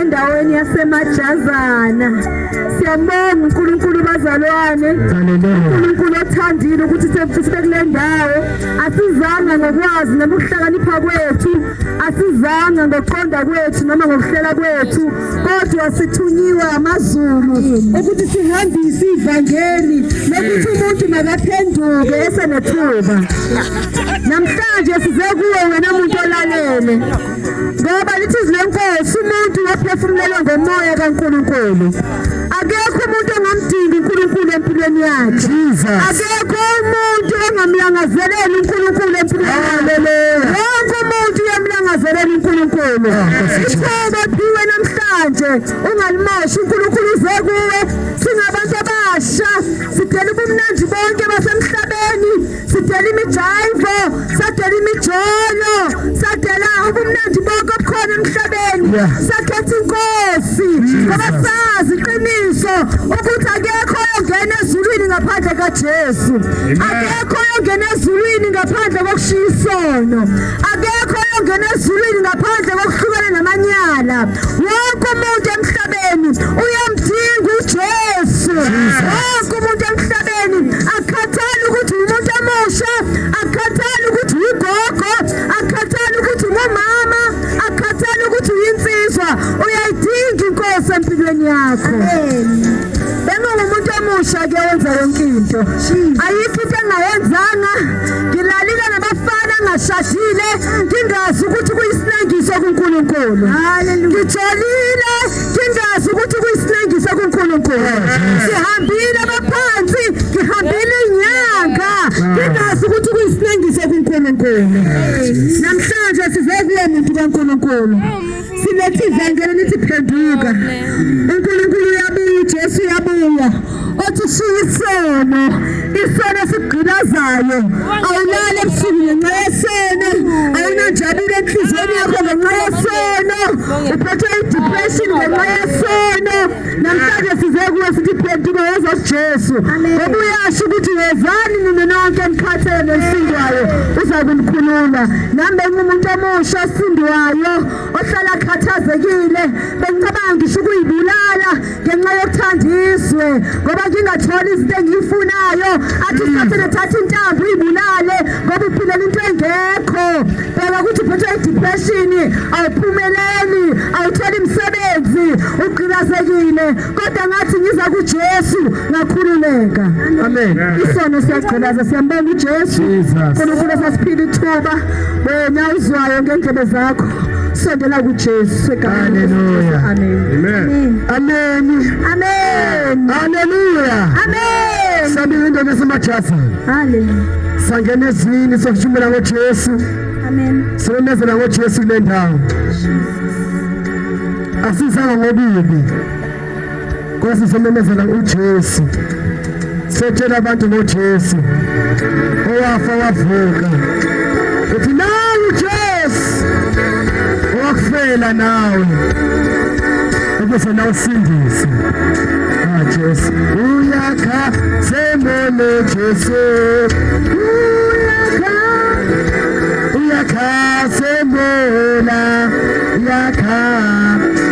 endaweni yasemajazana siyabonga uNkulunkulu bazalwane uNkulunkulu othandile ukuthi sefike kule ndawo asizanga ngokwazi nokuhlakanipha kwethu asizanga ngokuqonda kwethu noma ngokuhlela kwethu kodwa sithunyiwe amazulu ukuthi sihambise ivangeli lokuthi umuntu makaphenduke esenethuba namhlanje size kuwe wena muntu olalele ngoba lithi izwi lenkosi umuntu waphefumulelwa ngomoya kankulunkulu akekho umuntu ongamdingi unkulunkulu empilweni yakhe akekho umuntu ongamlangazeleli unkulunkulu empilweni yakhe wonke umuntu uyamlangazelela unkulunkulu ah, ithoba phiwe namhlanje ungalimoshi unkulunkulu uze kuwe singabantu abasha sidela ubumnandi bonke basemhlabeni sidela imijaivo sadela imijolo sadela ubumnandi bonke obukhona emhlabeni sakhetha inkosi ngoba sazi iqiniso ukuthi akekho oyongena ezulwini ngaphandle kajesu akekho oyongena ezulwini ngaphandle kokushiya isono akekho oyongena ezulwini ngaphandle kokuhlukana namanyala wonke umuntu emhlabeni uyamdinga ujesu umuntu emhlabeni akhathali ukuthi umuntu omusha akhathali ukuthi ugogo akhathali ukuthi ngumama akhathali ukuthi uyinsizwa uyayidinga inkosi empilweni yakho bengingumuntu omusha ke wenza yonke into ayikho into engayenzanga ngilalile nabafana ngashashile ngingazi ukuthi kuyisinengiso kuNkulunkulu ngijolile Singazi ukuthi kuyisinengiso kuNkulunkulu. Sihambile abaphansi, ngihambile inyanga. Singazi ukuthi kuyisinengiso kuNkulunkulu. Namhlanje size kuye muntu kaNkulunkulu. Silethe ivangeli lithi phenduka. othi ushiya isono isono esigqilazayo awulali ebusuku ngenxa yesono awunanjabile enhliziyweni yakho ngenxa yesono uphethwe i-depression ngenxa yesono namhlanje size kuwe sithi phenduka woza kujesu ngoba uyasho ukuthi wezani nina nonke emkhathele nesindwayo uza kunikhulula nami bengumuntu omusha osindiwayo ohlala akhathazekile bengicabanga ngisho ukuyibulala ngenxa yokuthanda izwe ngoba ngingatholi izinto engiyifunayo athi hmm. usathane thatha intambo uyibulale ngoba uphilela into engekho bheka ukuthi uphethwe idepression awuphumeleli awutholi msebenzi ugqilazekile kodwa ngathi ngiza kuJesu ngakhululeka amen isono siyagqilaza siyambonga uJesu uNkulunkulu sasiphila ithuba wena uzwayo ngendlebe zakho Sendela kuJesu segameni likaJesu. Amen. Amen. Amen. Haleluya. Amen. Sabile into ngesimajasi. Haleluya. Sangena ezwini sokushumela ngoJesu. Amen. Sibonezela ngoJesu kule ndawo. Asizanga ngokubi. Nkosi simemezela uJesu. Setshela abantu ngoJesu. Owafa wavuka. Uthi nawu Jesu. Owakufela nawe. Ukuze nawe usindise. Ah Jesu. Uyakha semele Jesu. Uyakha. Uyakha semela. Uyakha.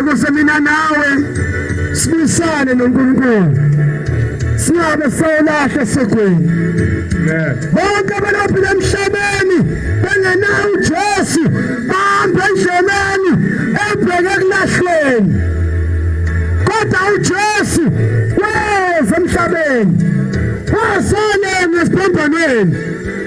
ukuze mina nawe sibusane noNkulunkulu singabe selahle segweni bonke abaphila emhlabeni bengenawo uJesu bahamba endleleni ebheke kulahlweni kodwa uJesu weza emhlabeni wazona ngesiphambanweni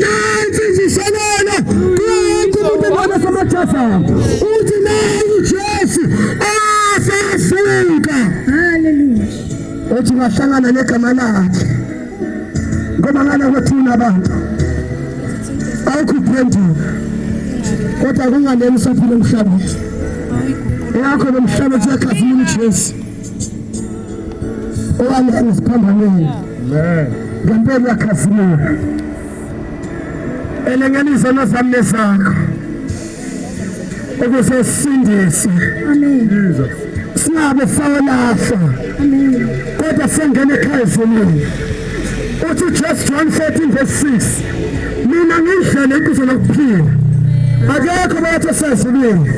Nansi ngishalela kuthi umuntu ebona samathatha uthi nayi uJesu asasuka. Hallelujah. Uthi ngahlangana negama lakhe. Ngoba ngana kwethuna abantu. Awukuphendula. Kodwa kunganeni usaphila emhlabeni. Yakho lomhlaba uyakhazimula uJesu. Owami engiziphambaneni. Amen. Ngempela khasimula. Elenganiso lozami lezakho. Ukuze sindise. Amen. Jesus. Singabe sawalahla. Amen. Kodwa sengena ekhaya ezulwini. Uthi Jesu John 14 verse 6. Mina ngindlela inkuzo lokuphila. Akekho bathi sezulwini.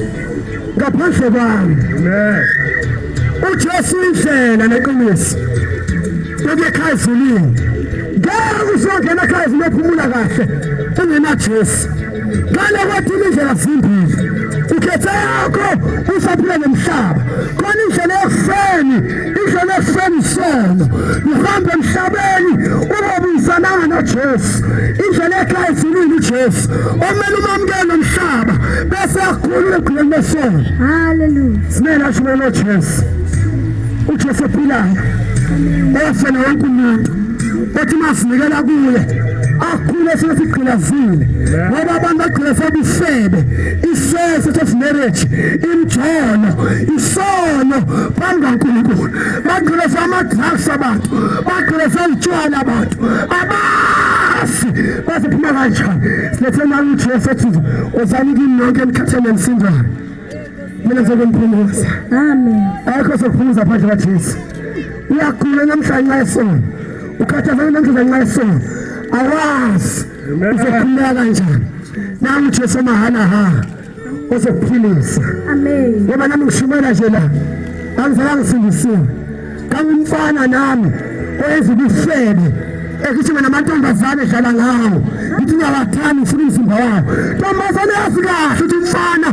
ngaphandle kwami uJesu indlela neqiniso ukukhaya ezulwini ngeke uzongena ekhaya ezulwini ephumula kahle ungenaJesu ngale kwathi indlela zimbili ukhethe yakho usaphila nomhlaba khona indlela yokufeni izolo ekuseni solo ngihamba emhlabeni ubobuyisananga nojesu indlela ekhaya ezulwini ujesu omele umamukele nomhlaba bese akhulule ekhuleni lesolo haleluya simele ashumele nojesu ujesu ophilayo ofela wonke umuntu othi masinikela kuye akhule sesigqilazile ngoba abantu bagqila sebufebe isese sesimarriage imjolo sono phambi kaNkulunkulu bagqileza ama-drugs abantu bagqileza utshwala abantu abazi baziphuma kanjani siletheni ujesu ethi uzani kimi nonke enikhathele nisindayo mina ngizokumphumuza amen akho sokuphumuza phandle kajesu uyagula namhlanje nxa esono ukhathazana namhlanje nxa esono awazi uzokhululeka kanjani nangu jesu mahala hara ozokuphilisa amen ngoba nami ngishumela nje la angizange ngisindisiwe kangumfana nami oyenza ubufebe ekithi mina amantombazane edlala ngawo ngithi uyawathanda ufuna umzimba wawo ntombazane yazi kahle ukuthi umfana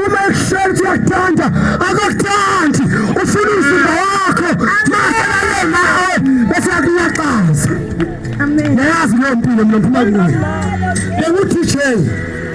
uma ekushela ukuthi uyakuthanda akakuthandi ufuna umzimba wakho masalale nawe bese yakuyaxaza yayazi leyo mpilo mina ngiphuma kuyo benguthi jeni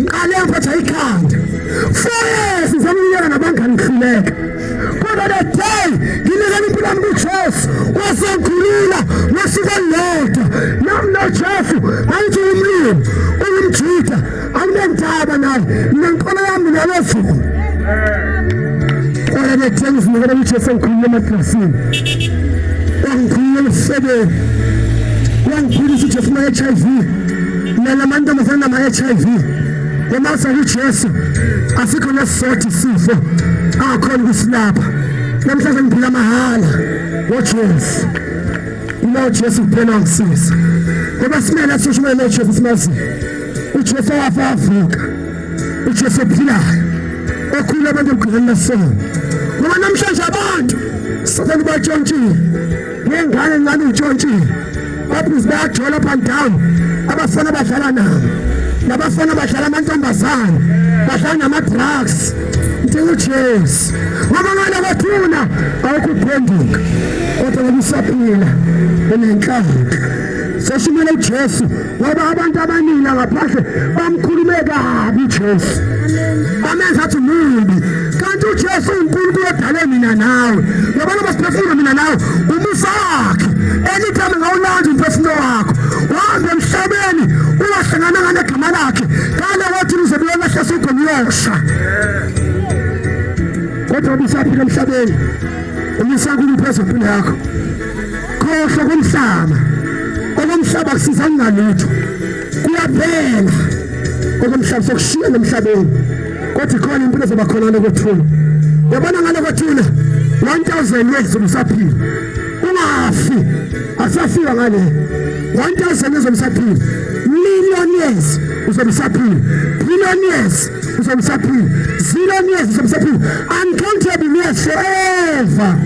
ngiqale ngiphetha ikhanda four years ngizomnyela nabangani ngihluleka kodwa the day nginikela impilo yami kujesu wasengikhulula ngosuku olulodwa nami nojesu angithi umlimi ungumjuda anginendaba naye mina nkolo yami nalezulu kodwa the day ngizinikela kujesu engikhulula emadlasini wangikhulula emsebeni wangiphilisa ujesu uma-h i v Nana mantombazane nama-HIV uma sekuJesu asikho nesisodwa isifo angakhona ukusilapha namhlanje ngiphila mahhala ngoJesu uma uJesu kuphela ngisiza ngoba simele sishumayele uJesu simaziyo uJesu wafa wavuka uJesu ophilayo okhulu abantu emgqileni lesona ngoba namhlanje abantu sathane ubatshontshile ngengane ngani utshontshile babhizi bayagjola up and down abafana badlala nabo nabafana badlala amantombazane badlala nama-drugs ntingujesi ngoba ngale kwathuna awukuphenduka kodwa ngokusaphila unenhlanhla seshimele ujesu ngoba abantu abaningi ngaphandle bamkhulume kabi uJesu bamenza athi mumbi kanti uJesu uNkulunkulu odale mina nawe ngoba noma siphefumula mina nawe umusa wakhe elithame ngawulanda umphefumulo wakho wahamba emhlabeni ungahlangananga negama lakhe kale wathi uzobuya lahle sugomlosha kodwa ubusaphila emhlabeni umisankulu phezu empilo yakho khohlwa komhlaba okomhlaba kusiza kungalutho kuyaphela okomhlaba sokushiya nomhlabeni kodwa khona impilo zoba khona lokuthula yabona ngalokuthula 1000 years umsaphila ungafi asafika ngale 1000 years umsaphila million years uzomsaphila billion years uzomsaphila zillion years uzomsaphila uncountable years forever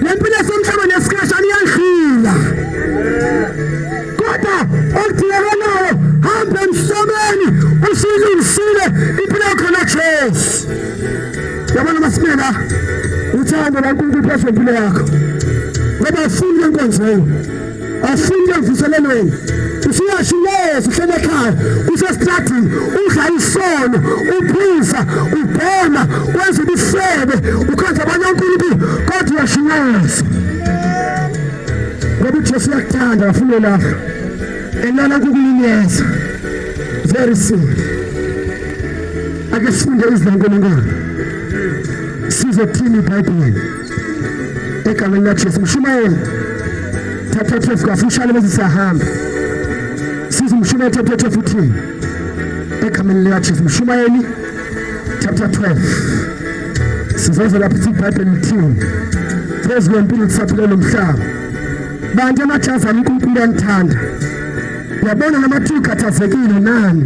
lempilo esemhlabeni yesikhashana iyadlula kodwa okudingakalayo hambe emhlabeni usuyilungisile impilo yakho na Jesu yabona masimela uthando laNkulunkulu phezu kwempilo yakho ngoba ufuna inkonzo Asike mvuselelweni usuyasho yes uhlele ekhaya usestradini udla isono uphuza ubhema wenza ubufebe ukhenza abanye onkulunkulu kodwa uyashinyayisa ngoba ujesu uyakuthanda wafuna olakho elala kukuyinyeza very soon ake sifunde izilankulungwane sizothini ibhayibheli egameni likaJesu mshumayeli thatha thefu kafushane bese siyahamba siza umshumayeli thatha thefu uthini egameni likaJesu mshumayeli chapter 12 sizoze lapho ithi ibhayibheli lithini phezu kwempilo kusaphile lo mhlaba bantu amajazi ami unkulunkulu uyanithanda yabona namathiwa ukhathazekile nani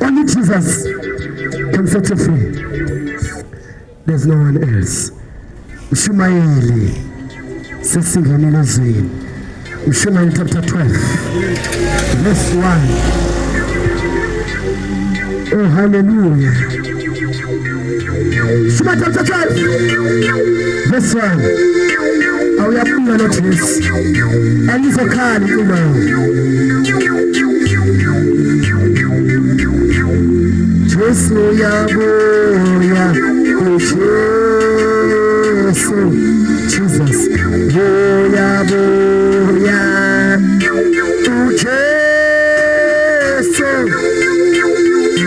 Only Jesus can set you free. There's no one else. Mshumayeli sesingenile ezweni. Mshumayeli chapter 12 verse 1. Oh hallelujah. This one. Awuyabula lo Jesu. Angizokhali kulo. Jesu uyabuya. Jesu. Jesus. Uyabuya. Jesu.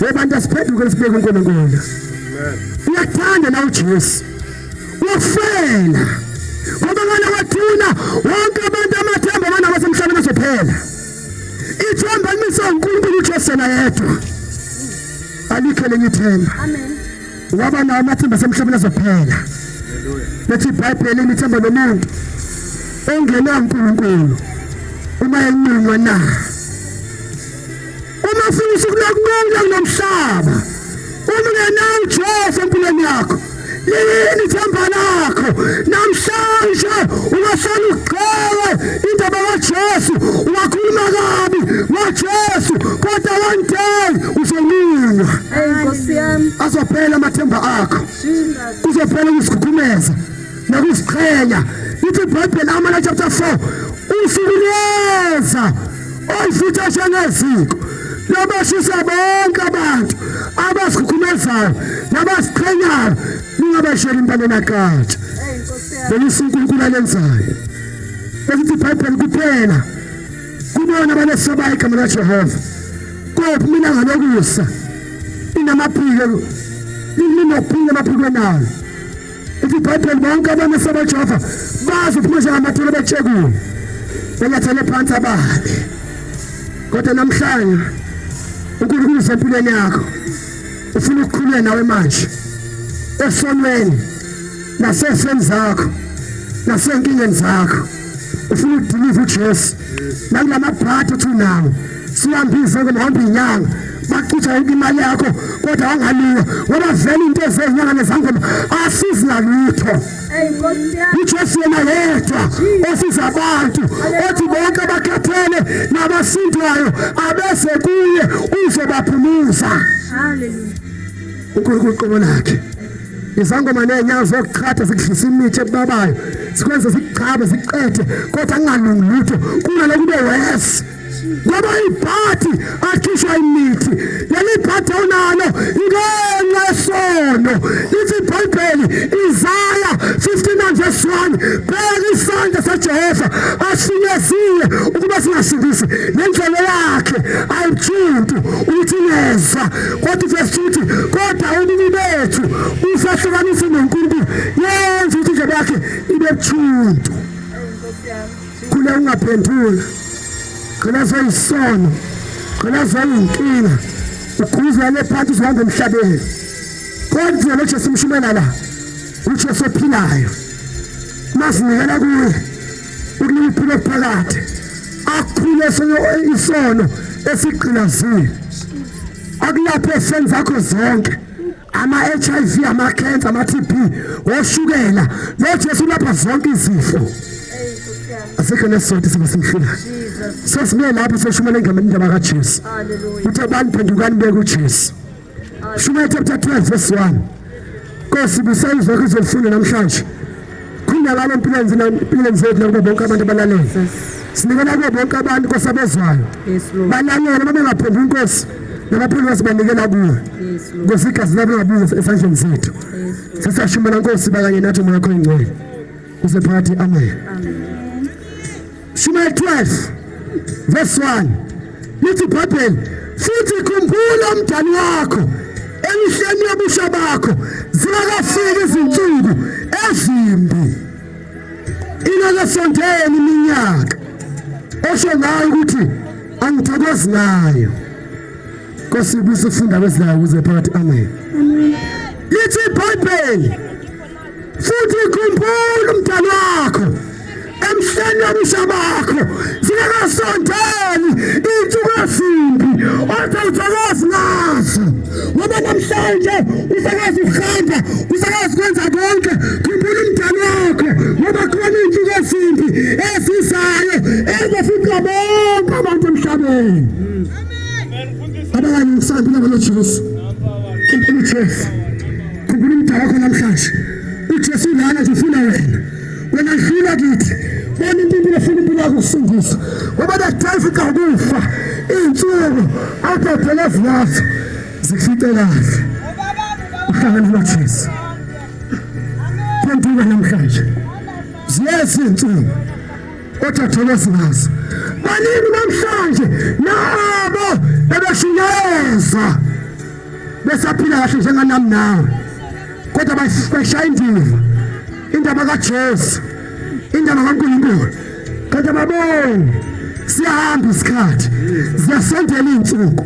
webantu asiphenduke sibeke uNkulunkulu uyakuthanda na uJesu ufela ngoba ngale wathuna wonke abantu amathemba abana basemhlabeni azophela ithemba limise uNkulunkulu uJesu na yedwa alikho lenye ithemba amen waba nawo amathemba asemhlabeni azophela bethi ibhayibheli imithemba nomuntu ongenankulunkulu uma enqunywa na Uma ufuna usuku lokubuya kulomhlaba, uma ungenawo uJesu empilweni yakho, liyini ithemba lakho? Namhlanje ungahlala ugxewe indaba kaJesu, ungakhuluma kabi ngoJesu, kodwa one day uzolunga. Azophela amathemba akho, kuzophela ukuzikhukhumeza. nakuziqhenya ithi ibhayibheli amala chapter 4 usuku liyeza olifutha njengeziko lobashisa bonke abantu abazikhukhumezayo nabaziqhenyayo ningabashela impande nakatsha belisa unkulunkulu alenzayo besithi ibhayibheli kuphela kubona abanesabayo igama lajehova kophi mina ngalokusa inamaphiko linophile emaphikweni ayo Uthi iBhayibheli bonke abantu esebejova bazi ukuthi manje ngamathole betshekule. Benyathele phansi ababi. Kodwa namhlanje uNkulunkulu usempilweni yakho. Ufuna ukukhulula nawe manje. Esonweni naseseni zakho nasenkingeni zakho. Ufuna ukudiliva uJesu. Nakulamabhatha uthi unawo. sihambise ke mhamba inyanga bacutsha yonke imali yakho kodwa wangaliwa ngoba vele into ezenyanga nezangoma asizi ngalutho ujesu yena yedwa osiza abantu othi bonke abakhathele nabasindwayo abese kuye uzobaphumuza unkulunkulu qobo lakhe izangoma neenyawo zokuchatha zikudlisa imithi ebabayo zikwenze zikuchabe zikuqede kodwa kungalungi lutho kunalokube wesi ngoba ibhadi akhishwa imithi leli bhadi onalo ngenxa yesono ithi ibhayibheli izaya 59 verse 1 bheka isandla sajehova asinyezile ukuba singasindisi nendlela yakhe ayijuntu ukuthi nezwa kodwa verse 2 uthi kodwa ubini bethu usahlukanise nonkulunkulu yenza ukuthi indlela yakhe ibe buthuntu Khule ungaphendula. Gcina seyisono. Gcina seyinkinga. Ukhuzwa le phansi uzohamba emhlabeni. Kodwa lo Jesu mshumela la. UJesu ophilayo. Masinikela kuye. Ukunika iphilo phakathi. Akhule isono esigqilazile. Akulaphe senza zakho zonke. ama-hiv amakhensa ama-tb oshukela lo jesu ulapha zonke izifo asikho nesizotha siba simhlulayo sesibuye lapho seshumela engameni indaba kajesu uthi abantu phendukani beke ujesu shumela chapter 12 verse 1 nkosi busa izwakho izolifunda namhlanje Qindelani empilweni zina empilweni zethu nakubo bonke abantu abalalele. Sinikela kubo bonke abantu Nkosi abezwayo. Balalele babengaphenduli inkosi nabaphulukasi banikela kuwe. Nkosi igazi labo ngabuza esandleni zethu. Sisashumela Nkosi bakanye nathi umoya wakho ingcwele. Usephakathi amen. Amen. Shumayeli 12 verse 1 lithi ibhayibheli futhi khumbula umdali wakho emihleni yobusha bakho zingakafiki izinsuku ezimbi ingakasondeli iminyaka osho ngayo ukuthi angithokozi ngayo nkosi ibusufunda kwezilayo kuze phakathi amen lithi ibhayibheli futhi khumbula umdali wakho emhleni wobusha bakho zingakasondeli iy'nsuku ezimbi othi awuzokwazi ngazo ngoba namhlanje usakwazi ukuhamba usakwazi ukwenza konke khumbula umdali wakho ngoba khona iy'nsuku ezimbi ezizayo ezofica bonke abantu emhlabeni abanye ngisandula ngalo Jesu impilo Jesu Khumbula umdala wakho namhlanje. UJesu lana nje ufuna wena. Wena dlula kithi. Bona impilo efuna impilo yakho kusindisa. Ngoba nakudayisa ikakufa. Insuku abhebhele ziyazo. Zifice kahle. Uhlangana noJesu. Phenduka namhlanje. Ziyeza insuku. kodwa thokozikazi baningi namhlanje nabo ebeshunyayeza besaphila kahle njenganami nawe kodwa bashaya indiva indaba kajesu indaba kankulunkulu kodwa babone siyahamba isikhathi ziyasondela iy'nsuku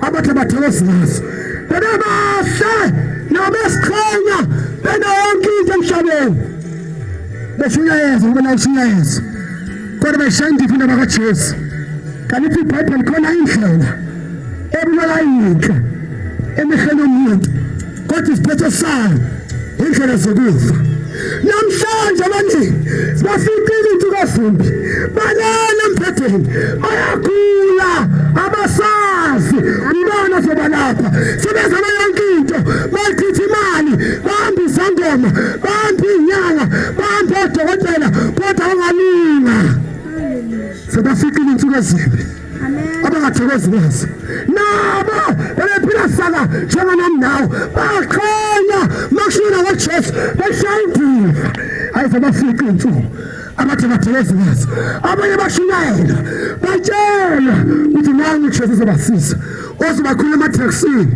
abathi abathokozikazi bebebahle nabesiqhenya bena yonke into emhlabeni beshunyayeza ngoba nawo ushunyayeza kodwa beshaya indiva indaba kajesu kanti ithi ibhayibheli khona indlela ebulala yinhle emehlweni omuntu kodwa isiphetho sayo indlela zokufa namhlanje abaningi bafikile into kazimbi balala emphetheni bayagula abasazi ubani ozobalapha sebezama yonke into bayichitha imali bahambisa ngoma bantu inyanga bantu odokotela kodwa ungalunga sebafikile insuku ezimbi abangathokozi kwazo nabo bebephila saka njenganami nawo baqhenya makushina kwajesu beshaya indiva ayize bafiqe insuku abathi abatheleziwazi abanye bashumayela batshela ukuthi nangu uJesu uzobasiza ozibakhulu emathakisini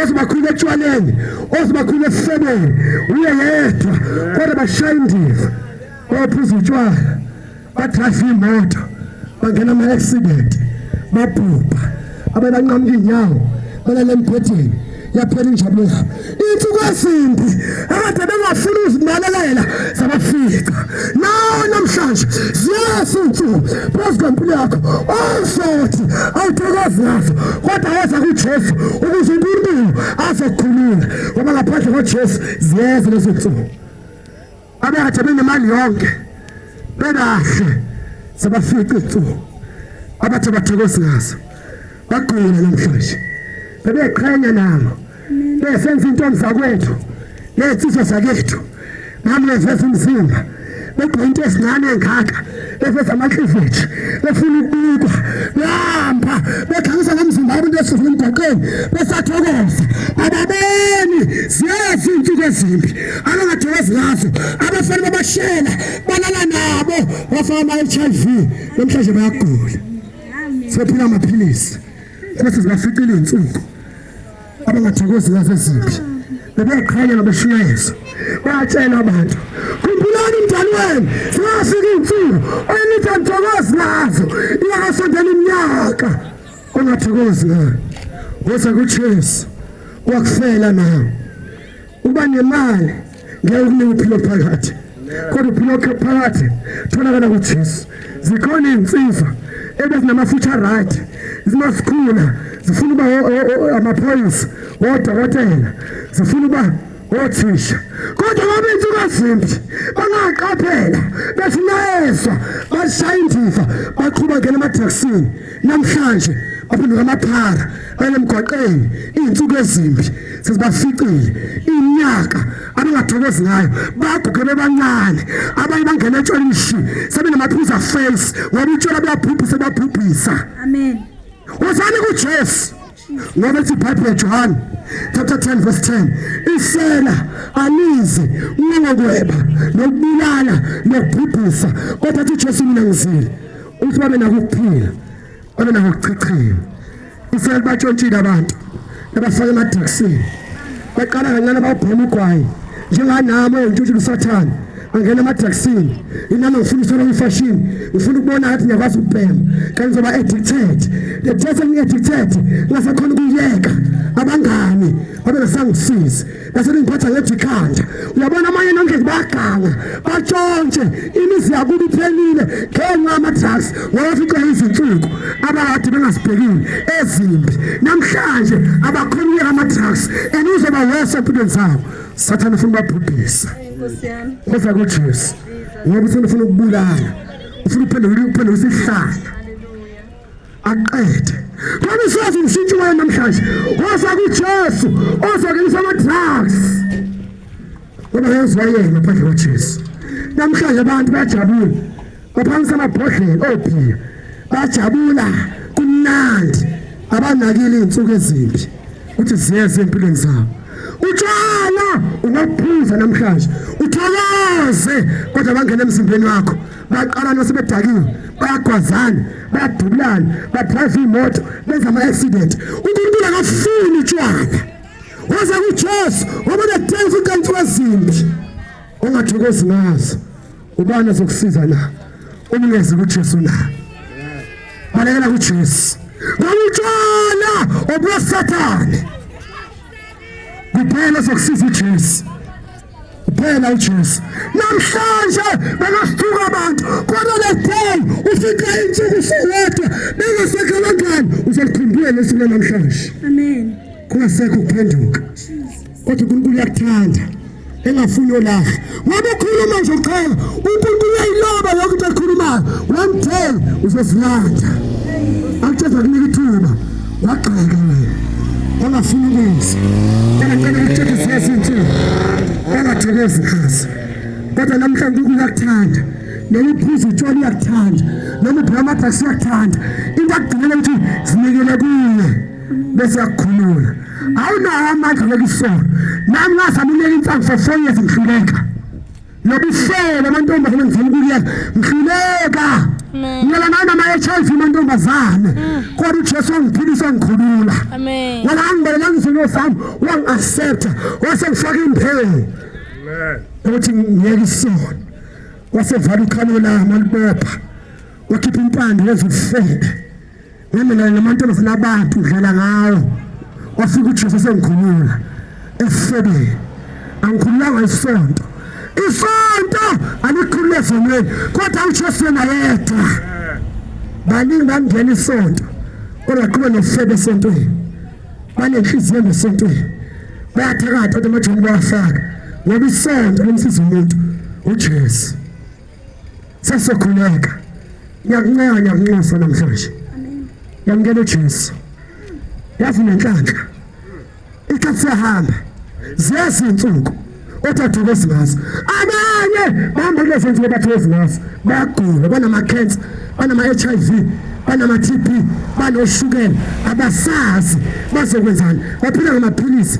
ozibakhulu etshwaleni ozibakhulu esifebeni uye yedwa kodwa bashaya indiva baphuza utshwala badrayiva imoto bangena ama-accident babhubha abebanqamuka inyawo balale embhedeni yaphela injabulo yabo insuku ezimbi akade bengafuni uzimalelela zabafica nawo namhlanje ziyehla insuku phezu kwempilo yakho ozothi awuthokozi ngazo kodwa weza kujesu ukuze unkulunkulu azokukhulula ngoba ngaphandle kwajesu ziyeza lezo nsuku Abekade benemali yonke bekahle sabafica izinsuku abathe bathokoza ngazo bagqina namhlanje bebeqhenya nabo besenza intombi zakwethu ney'nsizwa zakethu nami ngeveza umzimba begqoke into ezincane engaka beveza amakliveji befuna ukubikwa behamba bekhangisa ngomzimba abantu esifuna emgwaqeni besathokoza ababoni ziyazi iy'nsuku ezimbi abangathokozi ngazo abafana babashela balala nabo bafaka ama-h i v namhlanje bayagula sephila amaphilisi ukuthi zibaficile iy'nsuku abangathakozi ngazo ezimbi bebeqhanyela beshumayeza batshela abantu khumbulani umdali wenu zingafika iy'nsuku oyenithi angithokozi ngazo iyakasondela iminyaka ongathokozi ngayo woza kujesu wakufela nawe uba nemali ngeke ukunika uphilo phakathi kodwa uphilo phakathi tholakala kujesu zikhona iy'nsizwa ebezinamafutha right zimasikhula zifuna uba amaphoyisa wodokotela zifuna uba othisha kodwa ngoba insuku azimbi bangaqaphela bethi nayezwa bashaya indiva baqhuba ngena emadraksini Namhlanje baphenduka amaphara balemgwaqeni izinsuku ezimbi sezibaficile inyaka abangathokozi ngayo baguge bebancane abanye bangena etshwaleni shi sebenamaphuza face ngoba utshwala buyabhubhisa babhubhisa amen wozani kujesu Ngoba ithi iBhayibheli Johane chapter 10 verse 10 isela alizi ngokweba nokubulala nokubhubhisa kodwa uthi Jesu mina ngizile uthi babe nakuphila babe nakuchichima isela batshontshile abantu abafaka emadragsini baqala kancane bawubhema ugwayi njenganami oyintshutshulu sathane angena emadragsini inami ngifuna usola imfashini ngifuna ukubona ngathi ngiyakwazi ukubhema kanti ngizoba addicted the test ngi addicted ngasakhona ukuyeka abangani babengasangisizi base bengiphatha ngethi ikhanda uyabona amanye nonke bayaganga batshontshe imizi yakuba iphelile ngenxa yama-drugs wawaficwa izinsuku abakade bengazibhekile ezimbi namhlanje abakhona ukuyeka ama-drugs and uzoba wese empilweni zabo sathane ufuna ubabhubhisa Khosa kuJesu. Ngoba ufuna ufuna ukubulala. Ufuna uphendula uphendula isihlala. Aqede. Kodwa usazi umshintshi wayo namhlanje. Khosa kuJesu. Ozokelisa ama drugs. Ngoba yezwa yena phandle kwaJesu. Namhlanje abantu bajabule. Kuphansi amabhodlela obhiya bajabula kumnandi abanakile izinsuku ezimbi ukuthi ziyeze empilweni zabo utshwala ungaphuza namhlanje utholaze kodwa bangena emzimbeni wakho baqala nosebedakiwe bayagwazana bayadubulana badrive imoto benza ama-accident unkulunkulu akafuni utshwala waze kujesu wabona denza ukanti wezimbi ongathokozi ngazo ubani azokusiza na uma ungezi kuJesu na balekela kuJesu ngokutshona obusathane kuphela sokusiza uJesu kuphela uJesu namhlanje bengasithuka abantu kodwa le day ufika insuku sowedwa bengasekho abangani uzokukhumbula lesuku namhlanje amen kungasekho ukuphenduka kodwa uNkulunkulu uyakuthanda engafuni olahle ngoba ukhuluma nje uqala uNkulunkulu uyayiloba yonke into ekhulumayo one day uzozilanda akutsheza kunika ithuba wagxeka wena ongafuni ukwenza ongacela ukutshela izinto ezinhle ongathekezi khasi kodwa namhlanje uNkulunkulu uyakuthanda noma uphuza utshwala uyakuthanda noma ubhema amadrasi uyakuthanda into akugcinela ukuthi zinikele kuye bese yakukhulula awunawo amandla lokusola nami ngazama unyela insangu for four years ngihluleka nobuhlelo amantombazane ngizama ukuyeka ngihluleka ngiyela nayo nama-hiv mantombazane mm. kodwa ujesu wangiphilisa wangikhulula ngoba angibelela ngizini osami wangi-accepta wase ngifaka imphelo ukuthi ngiyeke isona wasevala ukhalo lami alibopha wakhipha impande wezifebe Ngamina namantombazana abantu udlala ngawo wafika uJesu sengikhulula esifebeni angikhululanga isonto isonto alikhulule ezonweni kodwa uJesu yena yedwa baningi bangena isonto kodwa qhube nesifebe esontweni banenhliziyo ngesontweni bayathakatha kodwa amajoni bawafaka ngoba isonto lomsiza umuntu uJesu Sasokhuleka. Ngiyakuncenga ngiyakunxusa namhlanje. Yamukela uJesu. Yazi nenhlanhla. Ikhathi sehamba. Ziyazinsuku othathokozi ngazo. Abanye bahamba kulezi nsuku bathokozi ngazo. Bayagula, banama cancer, banama HIV, banama TB, banoshukela, abasazi bazokwenzani. Baphila ngamaphilisi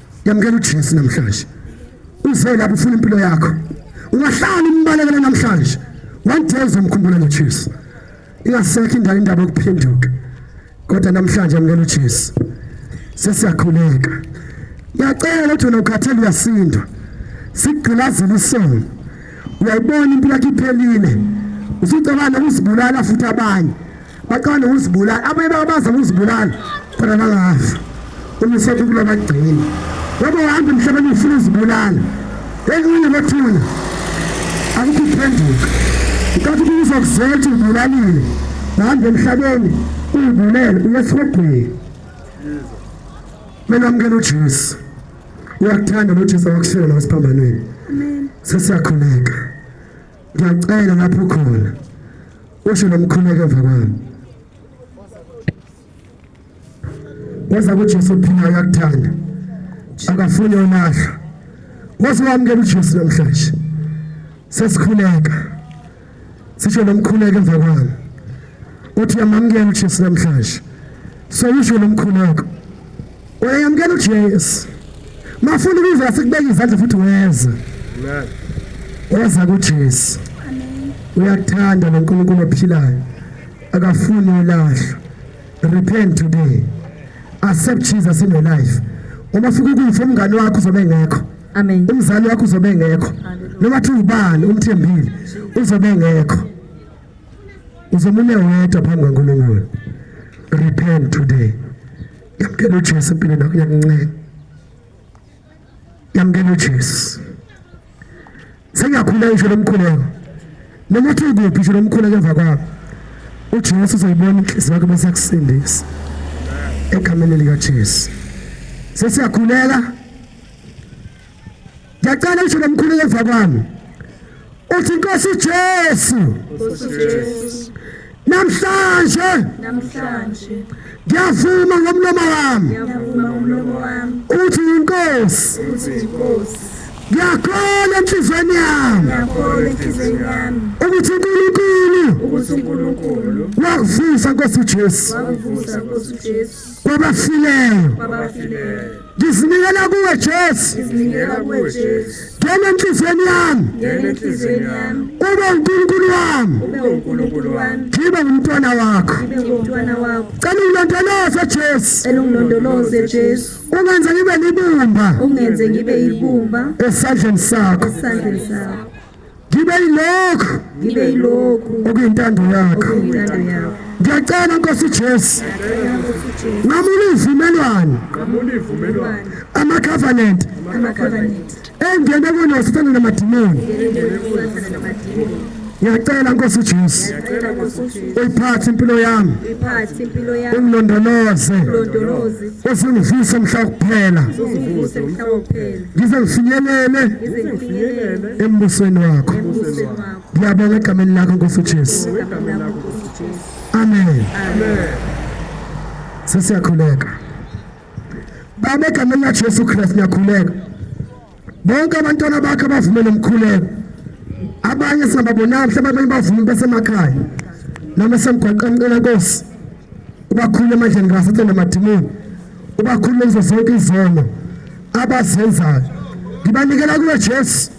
yamukela uJesu namhlanje uze lapho ufuna impilo yakho ungahlala umbalekela namhlanje one day uzomkhumbula noJesu ingasekho indawo indaba yokuphenduka kodwa namhlanje yamukela uJesu sesiyakhuleka ngiyacela ukuthi wena ukhathele uyasindwa sigqilazela isono uyayibona impilo yakhe iphelile usucabanga ukuzibulala futhi abanye baqala ukuzibulala abanye babaza ukuzibulala khona bakafa uma usethi kula bagcina ngoba uhamba emhlabeni ufuna uzibulala ekunye bathula akukho ukuphenduka nkathi kuza kuzela ukuthi ubulalile uhamba emhlabeni uyibulele uyesihogweni kumele amukele ujesu uyakuthanda nojesu awakushela la esiphambanweni sesiyakhuleka Ngiyacela lapho khona usho nomkhuleko emva kwami. Waza kuJesu phila uyakuthanda. Akafuni olahla. Waze wamukela uJesu namhlanje. Sesikhuleka. Sisho nomkhuleko emva kwami. Uthi yamamukela uJesu namhlanje. So usho nomkhuleko. Uyayamukela uJesu. Mafuna ukuzwa sikubeka izandla futhi weza. Amen. Weza kuJesu. Amen. Uyakuthanda lo Nkulunkulu ophilayo. Akafuni ulahlwa. Repent today. Accept Jesus in your life. Uma fika ukufa umngane wakho uzobe ngekho. Amen. Umzali wakho uzobe ngekho. Noma thi ubani umthembile uzobe ngekho. Uzomune wedwa phambi kaNkulunkulu. Repent today. yamkela uJesu empilweni yakho yakunceda yamkela uJesu sengiyakhuleka isho lomkhuleko noma uthi kuphi isho lomkhuleko emva kwakho uJesu uzoyibona inhliziyo yakho bese yakusindisa egameni likaJesu sesiyakhuleka Ngiyacela usho lomkhulu yeva kwami. Uthi Nkosi Jesu. Nkosi Jesu. Namhlanje. Namhlanje. Ngiyavuma ngomlomo wami. Ngiyavuma ngomlomo wami. Uthi inkosi. Uthi inkosi. Ngiyakholwa enhlizweni yami. Ngiyakholwa enhlizweni yami. Ukuthi uNkulunkulu. Ukuthi uNkulunkulu. Wakuvusa Nkosi Jesu. Wakuvusa Nkosi Jesu. Kwabafileyo. Kwabafileyo. Ngizinikela kuwe Jesu. Ngizinikela kuwe Jesu. Ngena enhlizweni yami. Ngena enhlizweni yami. Ube uNkulunkulu wami. Ube uNkulunkulu wami. Ngibe umntwana wakho. Ngibe umntwana wakho. Cela ungilondoloze Jesu. Cela ungilondoloze Jesu. Ungenze ngibe libumba. Ungenze ngibe ibumba. Esandleni sakho. Esandleni sakho. ngibe yilokhu ngibe yilokhu okuyintando yakho ngiyacela nkosi Jesu ngamula ivumelwano ama covenant engene kuno sithanda namadimoni ngiyacela nkosi uJesu uyiphathe impilo yami ungilondoloze usingivuse mhla kuphela ngize ngifinyelele embusweni wakho ngiyabonga egameni lakho nkosi ujesu amen sesiyakhuleka baba egameni lajesu kristu ngiyakhuleka bonke abantwana bakhe abavumele umkhuleko abanye singababonanga mhlawumbe abanye bavumi besemakhaya noma esemgwaqeni ncela nkosi ubakhulule emandleni kasathane namadimoni ubakhulule ngizo zonke izono abazenzayo ngibanikela kuwe Jesu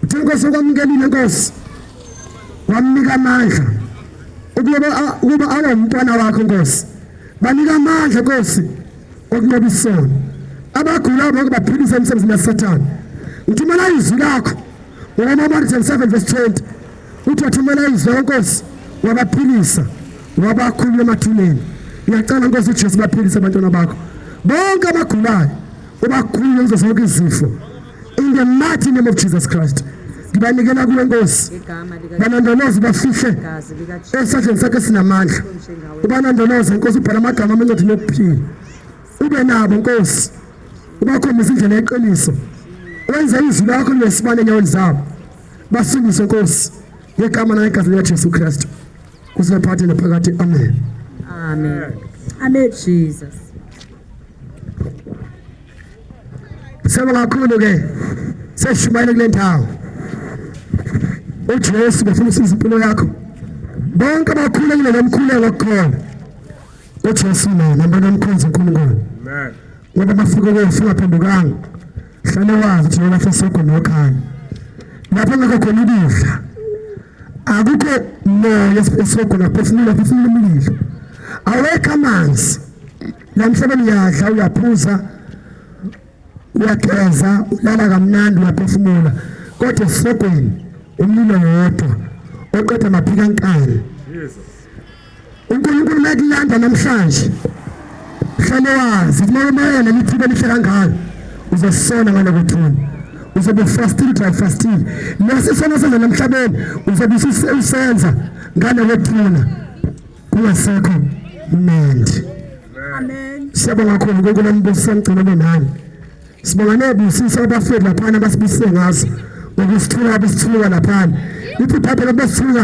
uthi inkosi okwamukelile inkosi wamnika amandla ukuba ukuba awe umntwana wakho inkosi banika amandla inkosi okunqoba isono abagulayo bonke baphilisa emsebenzini yasathane ngithumela izwi lakho ngoMamarjan 7 verse 20 uthi wathumela izwi lenkosi wabaphilisa wabakhulula emathuneni ngiyacela nkosi ujesu baphilise abantwana bakho bonke abagulayo ubakhulule kuzo zonke izifo in the mighty name of jesus christ ngibanikela kuwe nkosi banandoloze bafihle esandleni sakho esinamandla ubanandoloze nkosi ubhala amagama amencwadini yokuphila ube nabo nkosi ubakhombisa indlela yeqiniso wenze izwi lakho linesibane enyaweni zabo Basindise Nkosi ngegama naye igama lika Jesu Kristu. Kusiphathe naphakade. Amen. Amen. Amen Jesus. Siyabonga kakhulu ke. Seshumayela kule ndawo. uJesu bafuna usiza impilo yakho bonke abakhulekile nomkhuleko kukhona uJesu naye nambona umkhonzi uNkulunkulu amen Wena masiko ke singaphendukanga. Sale wazi ukuthi wena sesokho nokhaya. Lapho ngeke khona ukudla. Akukho moya esokho lapho sinile futhi sinilungile. Awekho amanzi. Namhlanje uyadla uyaphuza uyageza ulala kamnandi uyaphefumula kodwa esisogweni umlilo wodwa oqeda maphika nkani uNkulunkulu mekulanda namhlanje hlale wazi kumele umayele leli thuba elihle kangaka uzosona ngalokuthula uzobe ufastile dry fastile lesi sono senza namhlabeni uzobe usenza ngalokuthula kungasekho mnandi amen siyabonga kakhulu uNkulunkulu ambusa ngicela nani sibonga nebusisa abafethu laphana basibusise ngazo ngokusithuka abesithuka laphana ithi phaphe labesithuka